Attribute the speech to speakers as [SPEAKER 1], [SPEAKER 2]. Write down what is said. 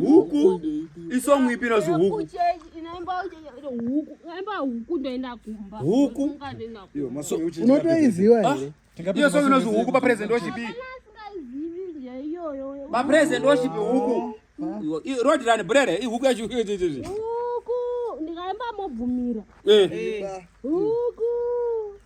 [SPEAKER 1] huku isong ipi inozi huku
[SPEAKER 2] huku
[SPEAKER 3] unotoiziva ah, here
[SPEAKER 4] iyo song inozi huku
[SPEAKER 1] papresident worship papresident worship huku road run brere ihuku yacho huku ndikaimba
[SPEAKER 2] mobvumira eh. huku